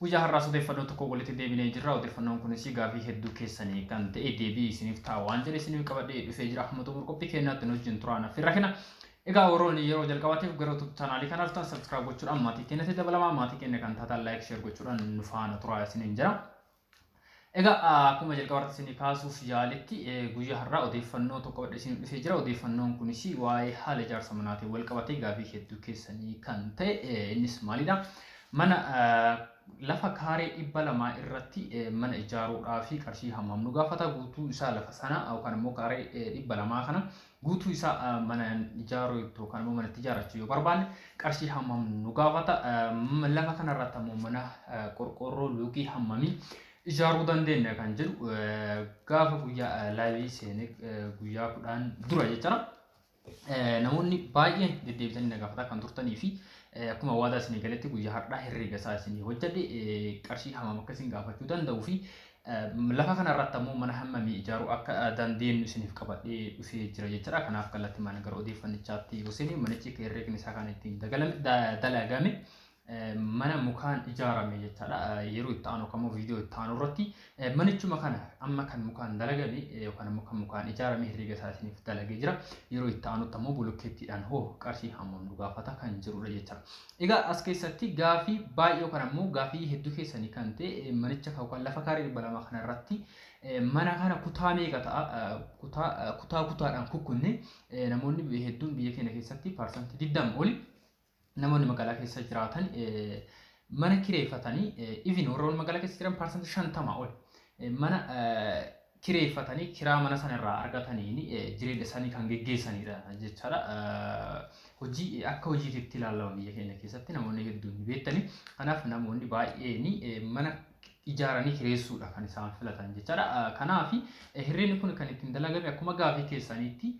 Guyyaa har'aas odeeffannoo tokkoon walitti deebinee jirra. Odeeffannoon kunis gaafii hedduu keessanii kan ta'e deebii isiniif ta'a waan jedhe isiniif qabadhee dhufee jira. Hamma xumur qophii keenyaatti nu wajjin turaa naaf rakina. Egaa warroonni yeroo jalqabaatiif gara YouTube chaanaalii kanaa dhuftan subscribe gochuudhaan maatii keenyatti dabalamaa maatii keenya kan taatan like share gochuudhaan nu faana turaa isiniin jira. Egaa akkuma jalqaba irratti isinii kaasuuf yaaletti guyyaa har'aa odeeffannoo tokko qabadhe isinii dhufee jira. Odeeffannoon kunis waa'ee haala ijaarsa manaatiin wal qabatee gaafii hedduu keessanii kan ta'e innis maalidha? Mana lafa kaaree dhibba lamaa irratti mana ijaaruudhaa fi qarshii hammam nu gaafata guutuu isaa lafa sana yookaan immoo kaaree dhibba lamaa kana guutuu isaa mana ijaaruu iddoo kan immoo manatti ijaarrachuu yoo barbaanne qarshii hammam nu gaafata lafa kana irratti ammoo mana qorqoorroo luukii hammamii ijaaruu dandeenya kan jedhu gaafa guyyaa laayivii seenee guyyaa kudhaan dura jechuudha. Namoonni baay'een deddeebitanii na gaafata kan turtanii fi akkuma waadaa isinii galetti guyyaa har'aa herreega isaa isinii hojjedhe qarshii hammam akka isin gaafachuu danda'u fi Lafa kana irratti ammoo mana hammamii ijaaruu akka dandeenyu isiniif qabadhee dhufee jira jechuudha. Kanaaf kallattimaan gara odeeffannichaatti yoo seenu manichi herreegni isaa kan ittiin dagalame da- dalagame eh, mana mukaan ijaarame jechaadha. Eh, Yeroo itti aanu yookaan immoo viidiyoo itti aanu irratti eh, manichuma kana amma kan mukaan dalagame eh, yookaan immoo kan mukaan ijaarame herreega isaa isiniif dalagee jira. Yeroo itti aanutti ammoo bolokkeettiidhaan hoo qarshii hammam nu gaafata kan jedhudha jechaadha. Egaa as keessatti gaafii baay'ee yookaan ammoo gaafii hedduu keessanii kan ta'e manicha yookaan lafa kaaree dhibba lama kana irratti mana kana kutaa meeqa ta'a kutaa kutaa kutaadhaan kukkunne namoonni hedduun biyya keenya keessatti parsantii digdama oli namoonni magaalaa keessa jiraatan mana kireeffatanii even warra magaalaa keessa jiran parsantii shantama oli mana kireeffatanii kiraa mana sana irraa argataniin jireenya isaanii kan geggeessanidha jechaadha. Hojii akka hojiitti itti ilaalama biyya keenya keessatti namoonni hedduun ni beektani. Kanaaf namoonni baay'een mana ijaaranii kireessuudha kan isaan filatan jechaadha. Kanaaf hirreenni kun kan ittiin dalagame akkuma gaafii keessaniitti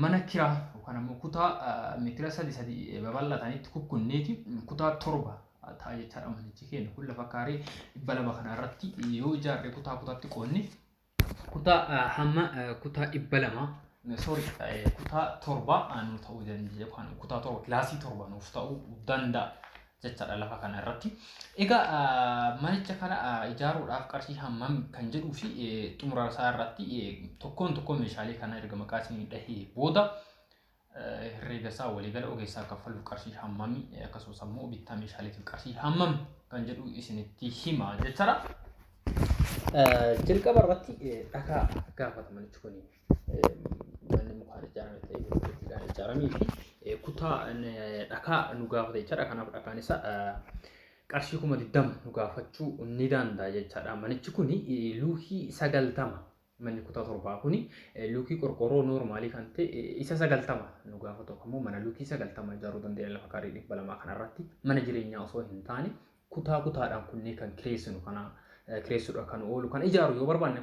mana kiraa yookaan ammoo kutaa meetira sadi sadi babal'atanitti kukkunneeti kutaa torba ta'a jechaadha manichi keenya kun lafa kaaree dhibba lama kana irratti yoo ijaarre kutaa kutaatti qoonne kutaa ah, hamma ah, kutaa dhibba lama sorry eh, kutaa torba ah, nu ta'uu danda'a yookaan kutaa torba kilaasii torba nuuf ta'uu danda'a jechaadha lafa kana irratti. Egaa ah, manicha kana ah, ijaaruudhaaf qarshii hammam kan jedhuu fi eh, xumura isaa irratti eh, tokkoon tokkoon meeshaalee kana erga maqaa isinii dhahee booda herreega isaa waliigala ogeessaa kaffaluuf qarshii hammami akkasumas ammoo bittaa meeshaaleetiif qarshii hammam kan jedhu isinitti hima jechaadha. Jalqaba irratti dhagaa gaafataman jechuun manni mukaan ijaarame ta'ee bilookkeetiidhaan ijaaramee fi kutaa dhagaa nu gaafata jechaadha. Kanaaf dhagaan isaa qarshii kuma digdama nu gaafachuu ni danda'a jechaadha. Manichi kun luukii sagaltama Manni kutaa torbaa kuni luukii qorqoorroo noormaalii kan ta'e isa sagaltama nu gaafatu yookaan immoo mana luukii sagaltama ijaaruu dandeenya lafa kaarii dhibba lamaa kanarratti mana jireenyaa osoo hin taane kutaa kutaadhaan kunnee kan kireessinu kana kireessuudhaan kan oolu kan ijaaru yoo barbaanne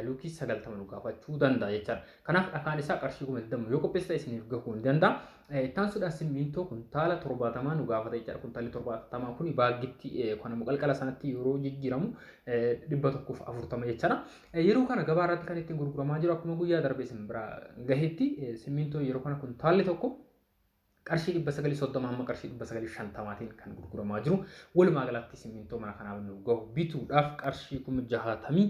luukii sagaltama nu gaafachuu danda'a jechaadha. Kanaaf dhakaan isaa qarshii kuma digdama yoo qopheessite isiniif gahuu ni danda'a. Itti aansuudhaan simmiintoo kuntaala 70 nu gaafata jechaadha. Kuntaalli 70 kun baaggitti yookaan immoo qalqala sanatti yeroo jijjiiramu 140 jechaadha. Yeroo kana gabaa irratti kan ittiin gurguramaa jiru akkuma guyyaa darbee sin bira gahetti simmiintoo yeroo kana kuntaalli tokko qarshii 930 hamma qarshii 950tiin kan gurguramaa jiru. Walumaa galatti simmiintoo mana kanaaf nu gahu bituudhaaf qarshii 62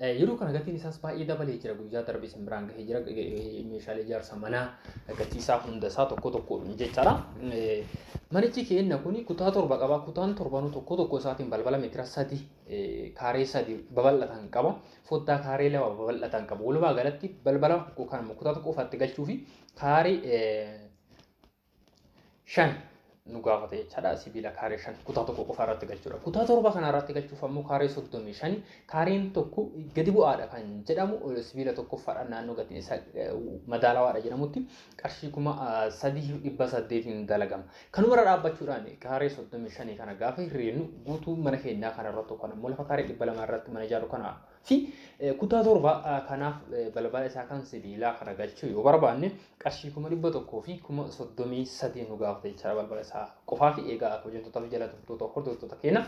Yeroo kana gatiin isaas baay'ee dabalee jira. Guyyaa darbe isin biraan gahee jira. Meeshaalee ijaarsa manaa gatii isaa hunda isaa tokko tokkoon jechaadha. Manichi keenna kun kutaa torba qaba. Kutaan torbanuu tokko tokko isaatiin balbala meetira sadi kaaree sadi babal'atan qaba. Foddaa kaaree lama babal'atan qaba. Walumaa galatti balbala yookaan immoo kutaa tokko ofaatti galchuu fi kaaree shan nu gaafata jechaadha. Sibiila kaaree shan kutaa tokko qofa irratti galchuudha. Kutaa torba kana irratti galchuuf ammoo kaaree soddomii shani kaareen tokko gadi bu'aadha kan jedhamu sibiila tokkoffaadha naannoo gatiin isaa madaalawaadha jedhamutti qarshii kuma sadii dhibba saddeetiin dalagama. Kanumarra dhaabbachuudhaan kaaree soddomii shanii kana gaafa hirreennu guutuu mana keenyaa kana irratti yookaan ammoo lafa kaaree dhibba lama irratti mana ijaaru kana fi kutaa torba kanaaf balbala isaa kan sibiilaa kana galchuu yoo barbaanne qarshii kuma dhibba tokkoo fi kuma soddomii sadii nu gaafata jechaadha balbala isaa qofaa fi eegaa hojjettoota fi jala turtoota hordoftoota keenya.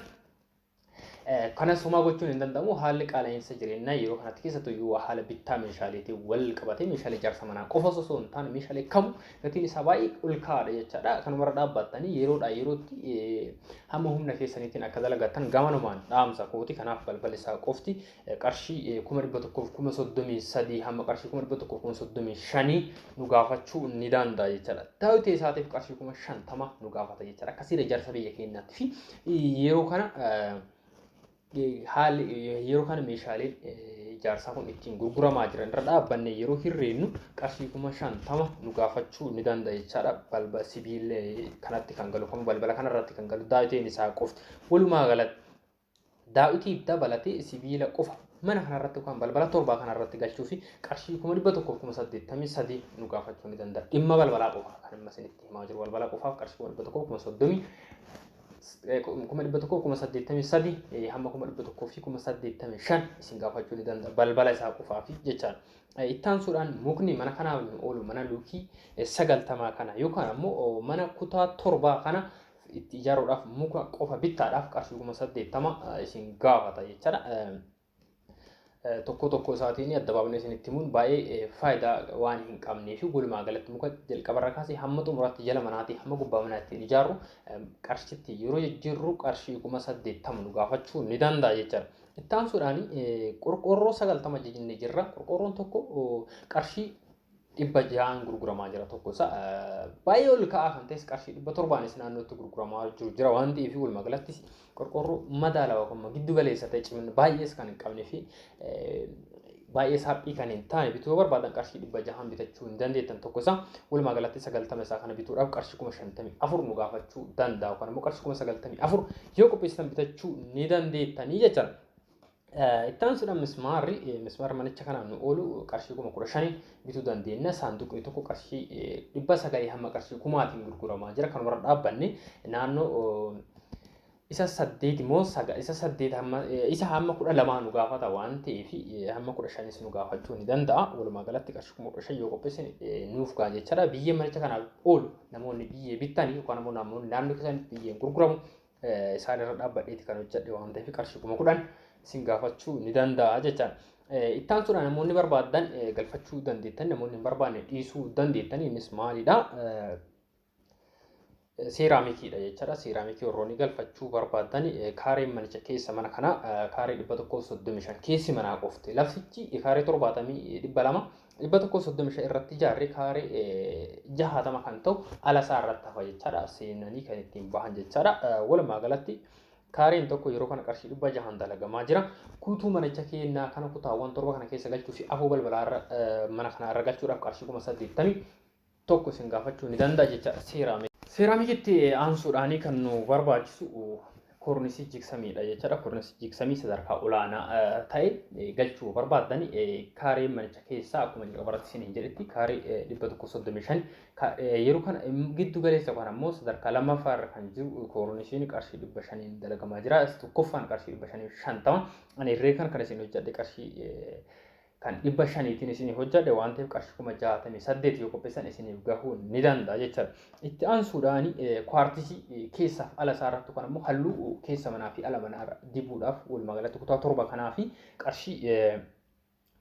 Kana somaa gochuun hin danda'amu haalli qaala'insa jireenyaa yeroo kanatti keessattuu yoo haala bittaa meeshaaleetiin wal qabatee meeshaalee ijaarsa manaa qofa osoo hin taane meeshaalee kamu gatiin isaa baay'ee ol ka'aadha jechaadha. Kanumarra dhaabbattanii yeroodhaa yerootti hamma humna keessaniitiin akka dalagattan gamanumaan dhaamsa kooti. Kanaaf balballi isaa qofti qarshii kuma dhibba tokkoof kuma soddomii sadii hamma qarshii kuma dhibba tokkoof kuma soddomii shanii nu gaafachuu ni danda'a jechaadha. Daawwitee isaatiif qarshii kuma shantama nu gaafata jechaadha. Akkasiidha jarsa biyya keenyaatti fi yeroo kana haalli yeroo kana meeshaaleen ijaarsaa kun ittiin gurguramaa jiran irra dhaabbanne yeroo hirreennu qarshii kuma shantama nu gaafachuu ni danda'a jechaadha. Balba sibiila kanatti kan galu kun balbala kanarratti kan galu daawwitiin isaa qofti. Walumaa galatti daawwitii dabalatee sibiila qofa mana kanarratti yookaan balbala torbaa kanarratti galchuu fi qarshii kuma dhibba tokkoof kuma saddeettamii sadii nu gaafachuu ni danda'a. Dhimma balbalaa qofa kan amma isinitti himaa jiru balbala qofaaf qarshii kuma dhibba tokkoof kuma soddomii kuma dhibba tokko kuma saddeettamii sadi hamma kuma dhibba tokkoo fi kuma saddeettamii shan isin gaafachuu ni danda'a balbala isaa qofaa fi jechaan. Ittaansuudhaan mukni mana kanaaf nu oolu mana luukii sagaltamaa kana yookaan ammoo mana kutaa torbaa kana itti ijaaruudhaaf muka qofa bittaadhaaf qarshii kuma saddeettama isin gaafata jechaadha. tokko tokko isaatiin adda baafnee isinitti himuun baay'ee faayidaa waan hin qabnee fi walumaa galatti muka jalqabarra kaasee hamma xumuraatti jala manaatii hamma gubbaa manaa ittiin ijaarru qarshitti yeroo jijjiirru qarshii kuma saddeettama nu gaafachuu ni danda'a jechaadha. Itti aansuudhaan qorqoorroo sagaltama jennee jirra. Qorqoorroon tokko qarshii dhibba ja'aan gurguramaa jira tokko isa baay'ee ol ka'aa kan ta'es qarshii dhibba torbaanis naannootti gurguramaa jiru jira waan ta'eef walumaa galattis qorqoorroo madaalawaa kan giddu galeessa ta'e cimina baay'ees kan hin qabnee fi baay'ee saaphii kan hin taane bituu barbaadan qarshii dhibba jahaan bitachuu hin dandeettan tokko isa walumaa galatti sagaltama isaa kana bituudhaaf qarshii kuma shantamii afur nu gaafachuu danda'a yookaan immoo qarshii kuma sagaltamii afur yoo qopheessitan bitachuu ni dandeettanii jechaadha. Itti aansuudhaan mismaarri mismaarri manicha kanaan nu oolu qarshii kuma kudha shanii bituu dandeenya. Saanduqni tokko qarshii dhibba sagalii hamma qarshii kumaatiin gurguramaa jira. Kanumarra dhaabbanne naannoo isa saddeet immoo isa saddeet hamma isa hamma kudha lamaa nu gaafata waan ta'eef hamma kudha shanis nu gaafachuu ni danda'a. Walumaa galatti qarshii kuma kudha shan yoo qopheesse nuuf ga'a jechaadha. Biyyee manicha kanaaf oolu namoonni biyyee bittanii yookaan immoo namoonni naannoo keessanitti biyyeen gurguramu isaan irra dhaabbadheeti kan hojjedhe waan ta'eef qarshii kuma kudhan isin gaafachuu ni danda'a jecha. Itti aansuudhaan namoonni barbaadan galfachuu dandeettan namoonni hin barbaanne dhiisuu dandeettan innis maalidha? Seeraamikiidha jechaadha. Seeraamikii warroonni galfachuu barbaadan kaareen manicha keessa mana kanaa kaaree dhibba tokkoof soddomii shan keessi manaa qofti laftichi kaaree torbaatamii dhibba lama dhibba tokko soddomi shan irratti ijaarri kaare jahaatama kan ta'u ala isaa irratti hafa jechaadha seenanii kan ittiin bahan jechaadha walumaa galatti kaareen tokko yeroo kana qarshii dhibba jahan dalagamaa jira kutuu manicha keenyaa kana kutaawwan torba kana keessa galchuu fi afoo balbalaa mana kana irra galchuudhaaf qarshii kuma saddeettamii tokko isin gaafachuu ni danda'a jechaadha seeraamik. Seeraamikitti aansuudhaanii kan nu barbaachisu kornisii jigsamiidha jechaadha. Kornisii jigsamii sadarkaa olaanaa ta'e galchuu barbaaddan kaaree manicha keessaa akkuma jalqabarratti isin hin jedhetti kaaree dhibba tokko soddomii shan yeroo kana giddu galeessa kan ammoo sadarkaa lammaffaa irra kan jiru koornisiin qarshii dhibba shaniin dalagamaa jira. Tokkoffaan qarshii dhibba shanii shantama. Ani irree kan kan isin hojjedhe qarshii kan dhibba shaniitiin isinii hojjadhe waan ta'eef qarshii kuma jaatamii saddeet yoo qopheessan isiniif gahuu ni danda'a jechaadha. Itti aansuudhaan kwaartisii keessaaf ala isaa irratti kan immoo halluu keessa manaa fi ala manaa irra dibuudhaaf walumaa galatti kutaa torba kanaa fi qarshii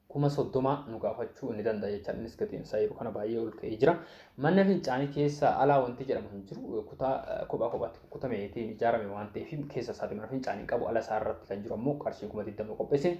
kuma soddoma nu gaafachuu ni danda'a jechaadha. Innis gatiin isaa yeroo kana baay'ee ol ka'ee jira. Manna fincaanii keessa alaa wanti jedhamu hin jiru. Kutaa kophaa kophaatti kukkutameetiin ijaarame waan ta'eef keessa isaati mana fincaanii qabu ala isaa irratti kan jiru ammoo qarshii kuma digdama qopheessin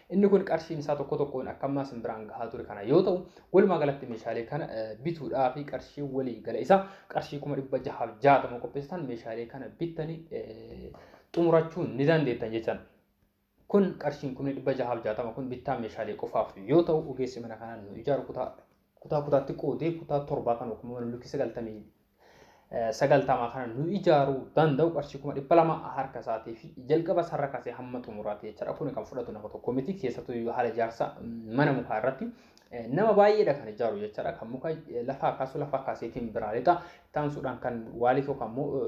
Inni kun qarshiin isaa tokko tokkoon akka ammaa isin biraan gahaa ture kana yoo ta'u, walumaa galatti meeshaalee kana bituudhaa fi qarshii walii gala isaa qarshii kuma dhibba jahaaf jaatama qopheessitan meeshaalee kana bittanii xumurachuu ni dandeettan jechan. Kun qarshiin kumni dhibba jahaaf jaatama kun bittaa meeshaalee qofaaf yoo ta'u, ogeessi mana kanaan nu ijaaru kutaa kutaa kutaatti qoodee kutaa torbaa kan yookiin mana lukkii sagaltamii sagaltamaa kana nu ijaaruu danda'u qarshii kuma dhibba lama harka isaatii fi jalqaba sarara kasee hamma xumuraati jechaadha. Kun kan fudhatu nama tokko miti keessattuu iyyuu haala ijaarsa mana mukaa irratti nama baay'eedha kan ijaaru jechaadha. Kan muka lafaa kaasu lafaa kaaseetiin biraa lixa Ittaansuudhaan kan waalif yookaan immoo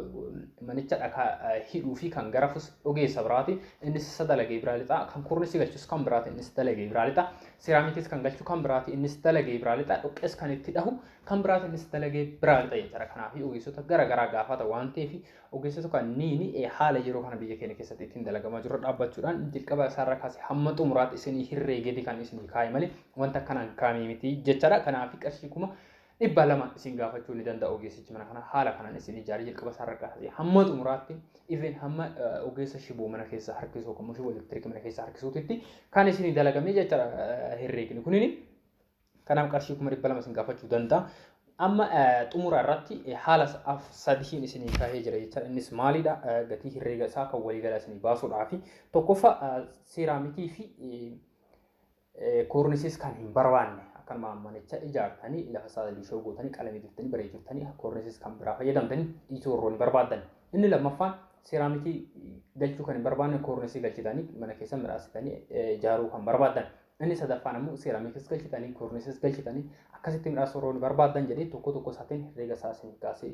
manicha dhakaa hidhuu fi kan garafus ogeessa biraati. Innis isa dalagee biraa lixa. Kan kornisi galchus kan biraati. Innis dalagee biraa lixa. Siraamikis kan galchu kan biraati. Innis dalagee biraa lixa. Dhoqqees kan itti dhahu kan biraati. Innis dalagee biraa lixa jechaadha. Kanaaf ogeessota gara garaa gaafata waan ta'eef ogeessota kanneen haala yeroo kana biyya keenya keessatti ittiin dalagamaa jiru dhaabbachuudhaan jalqaba isaarra kaasee hamma xumuraatti isinii hirreegeeti kan isinii kaa'e malee wanta kanaan kaamii miti jechaadha. Kanaaf qarshii kuma dhibba lama isin gaafachuu ni danda'a ogeessichi mana kana haala kanaan isin ijaaree jalqaba isaa irra kaasee hamma xumuraatti even hamma eh, ogeessa shiboo mana keessaa harkisuu yookaan immoo shiboo elektirikii mana keessaa harkisuutitti kan isin dalagamee jechaadha eh, herreegni kunini kanaaf qarshii kuma dhibba lama isin gaafachuu danda'a. Amma eh, xumura irratti eh, haala sa- af sadiin isin kaahee jira jechaadha. Innis maalidha? Eh, Gatii herreega isaa kan waliigalaa isin baasuudhaa fi tokkoffaa eh, seeraamikii fi eh, Koornisis kan hin barbaanne akkanuma manicha ijaartanii lafa isaa liishoo gootanii qalamii diftanii bareechurtanii koornisis kan biraa fayyadamtanii dhiisuu warroonni barbaaddan. Inni lammaffaan seeraamikii galchuu kan hin barbaanne koornisii galchitanii mana keessa midhaasitanii ijaaruu kan barbaaddan. Inni sadaffaan ammoo seeraamikiis galchitanii koornisis galchitanii akkasitti midhaasuu warroonni barbaaddan jedhee tokko tokko isaatiin herreega isaa isin kaasee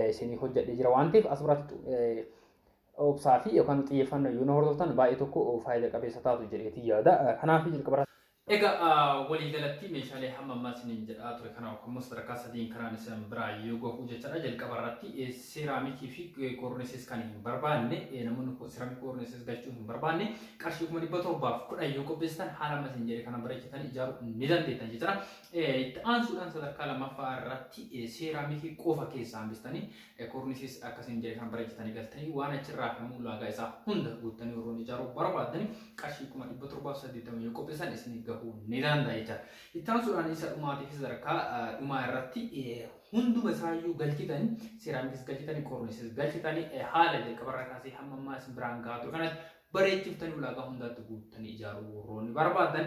isinii hojjedhee jira waan ta'eef as biraatti obsaa fi yookaan xiyyeeffannoo yoo na hordoftan baay'ee tokko faayida qabeessa taatu jedheetii yaada. Kanaaf jalqaba Egaa walii galattii meeshaalee hamma ammaa isiniin jedhaa ture kana yookaan immoo sadarkaa sadiin kanaan isin biraa yoo gahu jechaadha. Jalqaba irratti seeraamikii fi koornisis kan hin barbaanne namoonni seeraamik koornisis galchuu hin barbaanne qarshii kuma dhibba torbaaf kudhan yoo qopheessitan haala amma isin jedhe kana bareechitanii ijaaruu ni dandeettan jechaadha. Itti aansuudhaan sadarkaa lammaffaa irratti seeraamikii qofa keessaa hambistanii Ekurnisis akka isin jedhe kan bareechatanii galtanii waan achirraa hafame ulaagaa isaa hunda guuttanii warroon ijaaruu barbaaddani qarshii kuma dhibba torbaa fi saddeettama yoo qopheessan isinii gahuu ni danda'a jecha. Itti aansuudhaan isa dhumaatiif sadarkaa dhumaa irratti hunduma isaayyuu galchitanii seeraamikis galchitanii koornisis galchitanii haala jalqabarraa kaasee hamma ammaa isin biraan gahaa ture kanatti bareechiftanii ulaagaa hundaatti guuttanii ijaaruu warroonni barbaaddan